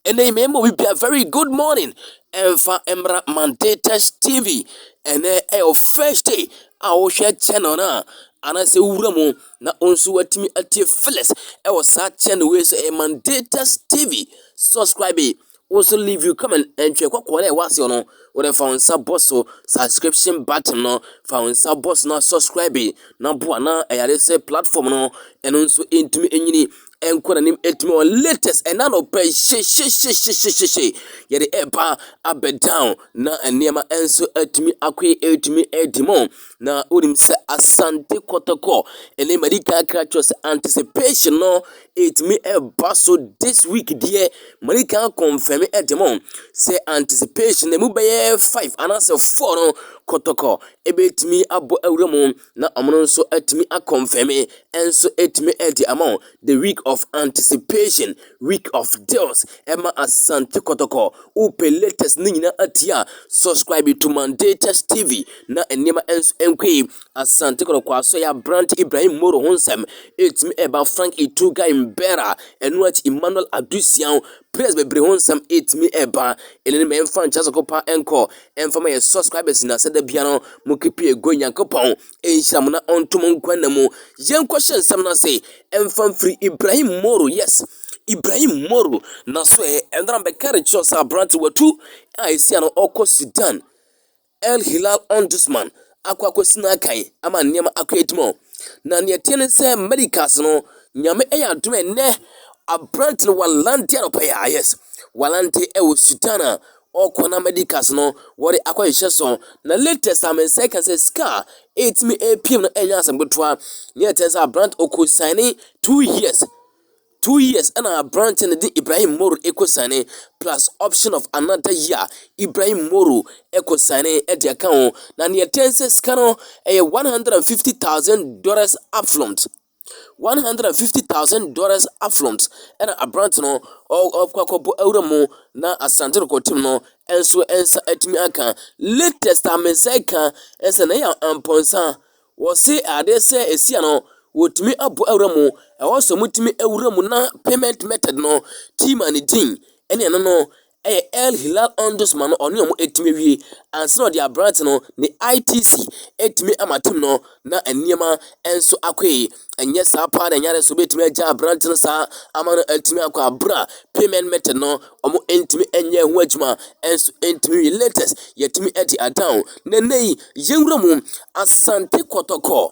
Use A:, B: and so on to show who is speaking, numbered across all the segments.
A: Ɛnnɛ yi mmɛma obi bia very good morning ɛmfa mmra Mandatus TV ɛnɛ ɛyɛ first day a wohwɛ channel no a anaasɛ wura mu na wo nso watumi atie Phyllis ɛwɔ saa channel wei so ɛyɛ Mandatus TV subscribe yi wo nso leave you comment ɛntwɛ kɔkɔɔ na ɛwɔ aseɛ no wode fa wo nsa bɔ so subscription button no fa wo nsa bɔ so na subscribe na boa na ɛyare sɛ platform no ɛno nso ɛntumi ɛnyini nkɔnanim ntoma wɔn latest ɛna no pɛ hyehyehyehyehyehye yɛde ɛba abɛ down na nneɛma nso atumi akɔe atumi adi mu na wonim sɛ asante kɔtɔkɔ ɛne madi kan aka akyerɛ wo sɛ anticipation no ɛtumi ɛba so this week deɛ madi kan confirm de mo sɛ anticipation no ɛmu bɛyɛ five anaasɛ four no kɔtɔkɔ ɛbɛtumi abɔ awura mu na wɔn nso atumi akɔnfɛme nso atumi de ama wɔn the week of anticipation week of deals ɛma asante kɔtɔkɔ wopɛ latest ne nyinaa atie a subscribe to mandatus tv na nneɛma nso nkɔ yi asante kɔtɔkɔ aso yɛ aberante ibrahim moro ho nsɛm ɛtumi ɛba frank ituga mbera ɛno akyi emmanuel adusian players bebree ho nsɛm ɛtumi ɛba ɛnene mɛmfa nkyɛ sɛ kɔpa nkɔ ɛmfa ma yɛ subscribers na sɛ da bia no mo kepi ego nyankopɔn ɛnhyira mo na ɔnto mo nkwa na mu yɛnkɔ hyɛ nsɛm no ase ɛmfa mfiri ibrahim moro yes ibrahim moro na so ɛ ɛnna bɛka de kyerɛ sɛ aberante watu a ɛsia no ɔkɔ sudan el hilal ombudsman akɔ akɔsina akan ama nneɛma akɔ atim hɔ. Na nea ɛteɛ ne sɛ Amerika ase no, Nyame yɛ adom ɛnnɛ aberante no walante anɔpa yi a, yes, walante ɛwɔ Sudan a ɔkɔ na Amerika ase no wɔde akɔ hyehyɛ so. Na latest a me nsa ka sɛ sika a ɛtumi ɛpiem no ɛnyɛ asɛm ketewa. Nea ɛteɛ sɛ aberante ɔkɔ saine two years. Two years ɛna aberanteɛ no de Ibrahim Moro ɛkɔ signee plus option of another year Ibrahim Moro ɛkɔ signee ɛde aka ho na neɛ ɛtɛn nsɛ sika no ɛyɛ $150,000 upfront $150,000 upfront ɛna aberante no ɔkɔ akɔbɔ awura mu na Asante rekɔtem no nso nsa atumi aka latest a me nsa ɛka ɛsɛ na ɛyɛ ampɔnsa Wɔse adeɛ sɛ ɛsi a no, wɔtumi abɔ awura mu, ɛhɔ nso wɔtumi awura mu na payment method no, team a ne din ne ɛno no yɛ El Hilal Omdusman no ɔne wɔn atumi awie ansa na wɔde aberante no ne ITC atumi ama team no na nneɛma nso akɔ yie. ɛnyɛ saa paa na ɛnyare so bɛtumi agya aberante no saa ama no atumi akɔ abere a payment method no wɔn ntumi nyɛ ho adwuma nso ntumi yɛ latest yɛtumi adi adan na nna yi yɛnwura mu asante kɔtɔkɔ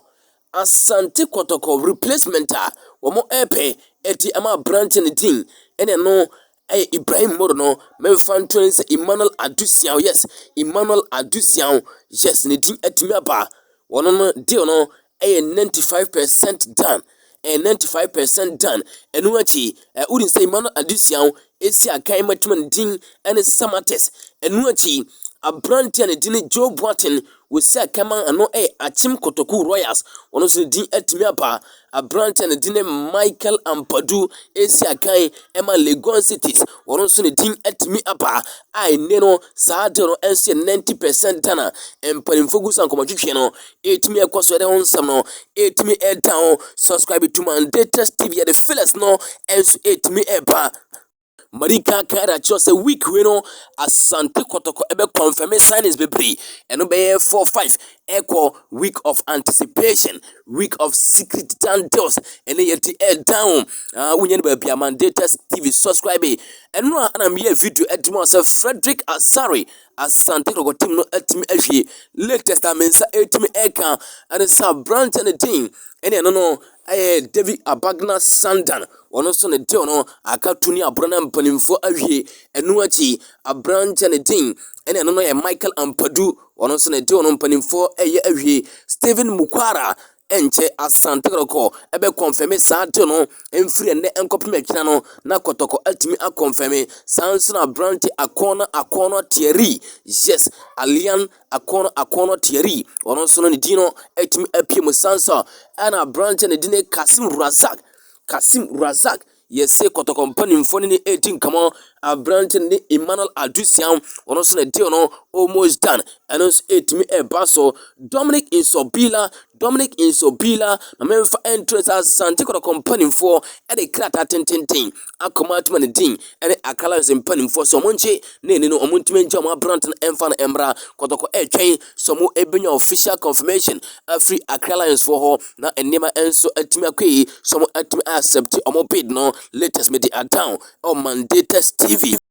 A: asante kɔtɔkɔ replacement a wɔn ɛpɛ ɛti ama aberante no din ɛne no ɛyɛ Ibrahim Moro no, memfa nto ne sɛ Emmanuel Adu Siaw, yes, Emmanuel Adu Siaw, yes, ne din atumi aba. Ɔno no deal no ɛyɛ 95 percent done, ɛyɛ 95 percent done. Ɛno akyi, ɛ wodi sɛ Emmanuel Adu Siaw esi akan matuma ne din ɛne Samatex. Ɛno akyi, aberanteɛ a ne din ne Joe Boateng Wɔsi Ackerman ano yɛ Akyem Kotoku Royals, ɔno nso ne din atumi aba. Aberanteɛ a ne din ne Michael Ampadu resi akan ma Legon Cities, ɔno nso ne din atumi aba a ɛnnɛ no saa adeɛ no nso yɛ 90 percent Ghana mpanimfoɔ gu so a nkɔmmɔtwetweɛ no ɛretumi ɛkɔ so ɛde ho nsɛm no ɛretumi ɛreda ho. Subscribe to my latest TV, yɛde Phyllis no nso ɛretumi ɛreba. Marika Kara kyerɛw sɛ week wei no Asante Kɔtɔkɔ bɛ confirm signings bebree, ɛno bɛyɛ four five ɛkɔ week of anticipation, week of secret down deals, ɛne yɛ ti ɛ down, ah wonya no baabi a Mandatus TV subscribe, ɛno a ɛna meyɛ video ɛde ma sɛ Frederick Asare Asante Kɔtɔkɔ team no atumi ahwie, latest a me nsa ɛtumi ɛka ɛne sɛ aberante ne din ɛne ɛno no Ɛyɛ David Abagna Sandan, ɔno nso ne deal no aka to ne aboro na mpanimfoɔ awie. Ɛno akyi, aberanteɛ ne din ɛne ɛno no yɛ Michael Ampadu, ɔno nso ne deal no mpanimfoɔ ɛyɛ awie. Stephen Mukwara ɛnkyɛ Asante Kɔtɔkɔ ɛbɛ kɔnfɛme saa deal no ɛmfiri ɛnnɛ ɛnkɔpem akyina no na Kɔtɔkɔ atumi akɔnfɛme. Saa nso na aberante Akɔɔna Akɔɔna Thierry, yes, Allian. akɔn akɔnɔ Thierry, ɔno nso no ne din no atumi apue mu san so a, ɛna aberanteɛ ne din ne Kasim Razak. Kasim Razak yɛse kɔtɔkɔ mpanimfoɔ ne ne ɛredi nkɔmmɔ aberanteɛ ne Emmanuel Adusiam ɔno nso ne deal no almost done ɛno nso ɛtumi ɛba so Dominic Nsobila Dominic Nsobila, ma memfa nto nsa, Asante Kotoko mpanimfoɔ de krataa tententen akɔma Atuma ne Dean ne Accra Lions mpanimfoɔ sɛ wɔnkye ne ani no, wɔntumi ngya wɔn aberante no mfa no mmra. Kotoko retwɛn sɛ wɔbɛnya official confirmation afiri Accra Lions foɔ hɔ na nneɛma nso atumi akɔ yie sɛ wɔatumi accept wɔn bid no. Latest mede adown ɛwɔ Mandatus TV.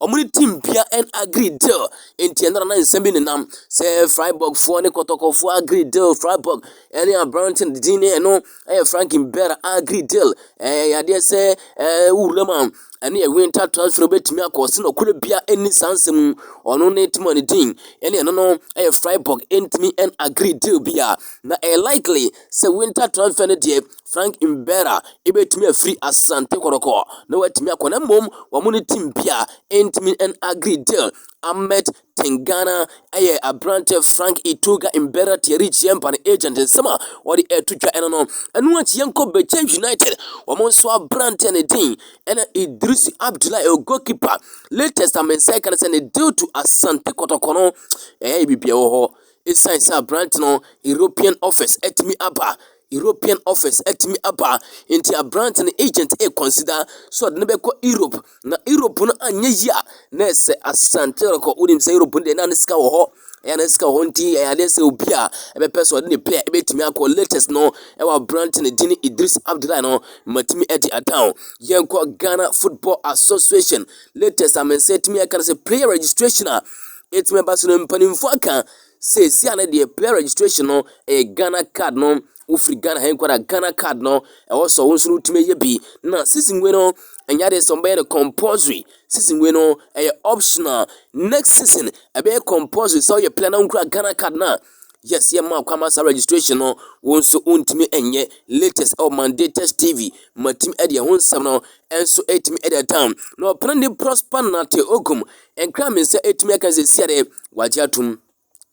A: Wɔn ne team bia ɛn agree deal nti ɛno na nsɛm bi nenam sɛ Freiburg foɔ ne kɔtɔkɔfoɔ agree deal Freiburg ɛne aberanteɛ no din ne ɛno ɛyɛ Franklin Bera agree deal ɛyɛ yadeɛ sɛ ɛɛ wura mu a ɛne yɛ winter transfer bɛtumi akɔ ɔse nɔkorɛ bia ɛnni saa nsɛm mu ɔno ne team a ne din ɛne ɛno no ɛyɛ Freiburg ɛntumi ɛn agree deal bi a na ɛyɛ likely sɛ winter transfer no deɛ Frank Mbera betumi afiri Asante Kɔtɔkɔ na watumi akɔ na mmom wɔn ne team bi a ɛntumi and agree deal. Ahmed Tengana yɛ aberanteɛ Frank Itoga Mbera Thierry Giempa no agent nsɛm a wɔde ɛto dwa ɛno no. Ɛno akyi yɛnkɔ Bɛkyɛ United wɔn nso aberanteɛ ne din ɛna Idris Abdullahi ɛyɛ goalkeeper latest a me nsa ɛka no sɛ ne deal to Asante Kɔtɔkɔ no ɛyɛ biribiara wɔ hɔ. Ɛsiane sɛ aberante no European offers atumi aba European office atumi aba. Enti aberante no agent reconsider sɛ ɔde no bɛkɔ Europe. Na Europe no anyɛ yie a, na ɛsɛ Asante rekɔ. Wonim sɛ Europe no deɛ na ne sika wɔ hɔ. Ɛyɛ na sika wɔ hɔ nti ɛyɛ adeɛ sɛ obi a ɛbɛpɛ sɛ ɔde ne pɛ a ɛbɛtumi akɔ latest no ɛwɔ aberante no din Idris Abdullahi no matumi adi adan. Yɛnkɔ Ghana Football Association latest a me nsa atumi aka no sɛ player registration a ɛtumi ɛba so no mpanimfoɔ aka seesei a ne deɛ player registration no ɛyɛ ghana card no wofiri ghana ha nkwa na ghana card no ɛwɔ sɛ wɔn nso no tumi yɛ bi na season wei no ɛnyɛ adeɛ sɛ wɔbɛyɛ no compulsory season wei no ɛyɛ optional next season ɛbɛyɛ compulsory sɛ ɔyɛ player na nkura ghana card na yes yɛ ma kwama sa registration no wɔn nso ntumi ɛnyɛ latest ɛwɔ mandated tv matumi ɛde ɛho nsɛm no ɛnso ɛtumi ɛde ɛtam na ɔpɛn de prosper nate ogum Ɛnkra me sɛ ɛtumi aka sɛ sia dɛ wagye atom.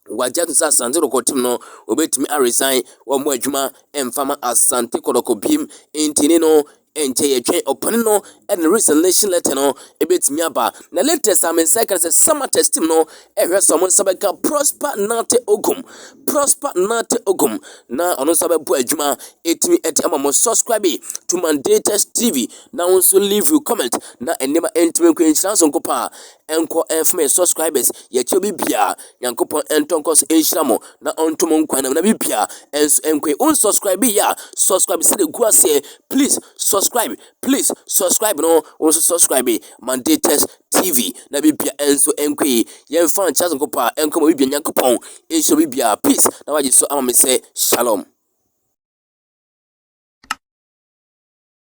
A: Wagye atom sɛ Asante Kɔtɔkɔ tim no wɔbɛtumi aresan wɔn adwuma mfa ma Asante Kɔtɔkɔ biom nti ne no nkyɛ yɛtwɛn ɔpani no de ne resignation letter no ɛbɛtumi aba. Na latest a me nsa ɛka sɛ Samatex tim no ɛhwɛ sɛ wɔn nsa bɛka Prosper Nartey Ogum. Prosper Nartey Ogum na ɔno nsa bɛbɔ adwuma ɛtumi ɛde ama mo subscribe to Mandatus TV. na wo nso leave you comment na nneɛma ntumi nkɔ nhyira so nkɔpɔ a ɛnkɔ ɛmfama yɛ subscribers yɛkyɛ bi bia nyankopɔn ɛntɔ nkɔ so nhyira mo na ɔnto mo nkwa nam na bi bia ɛnso ɛnkɔ yi on subscribe yɛ a subscribe sɛ de gu aseɛ please subscribe please subscribe no wo nso subscribe mandates tv na bi bia ɛnso ɛnkɔ yi yɛmfa nkyɛ so nkɔpɔ a ɛnkɔ ma bi bia nyankopɔn nhyira bi bia peace na wagye so ama me sɛ shalom